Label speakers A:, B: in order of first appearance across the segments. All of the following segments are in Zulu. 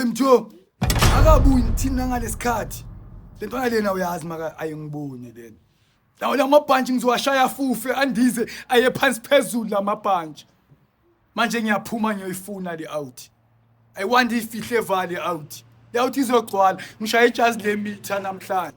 A: Mtho akabuyi ngithina ngalesikhathi. Lento lena uyazi maka ayingiboni lena. Lawo lamabhantshi ngizowashaya fufe andize aye phansi phezulu lamabhantshi. Manje ngiyaphuma ngiyoyifuna le out. I want ifihle vale out. Le out izogcwala ngishaya ijazi lemitha namhlanje.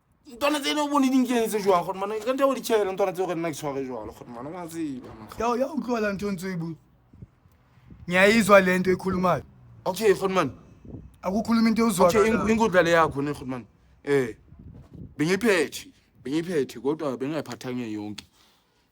B: ntlwana tse e ne o bone di nkenetse jwang gore mana ka nta o di tšhaele ntlwana tse gore nna ke tshware jalo gore mana wa tseba ya ya utlwala
A: ntho ntse bu ngiyayizwa le nto ekhulumayo okay gore mana
B: akukhuluma into
A: okay eng- ewuzwa inkudla le yakho
B: ne gore mana um bengiyiphethe bengiyiphethe kodwa bengingayiphathanga yonke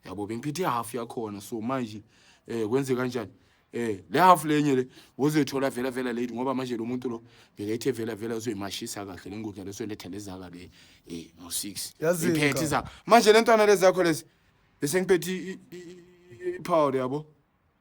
B: yabo bengiphethe ihalf yakhona so manje eh kwenze kanjani eh le half lenye le uzothola vela vela lady ngoba manje lo muntu lo bekethe vela vela uzoyimashisa kahle le ngudla lesoletha lezaka le eh no 6 Yazi iphethe ka. izaka manje le ntwana lezakho lezi bese ngiphethe i- i- i- i- powder yabo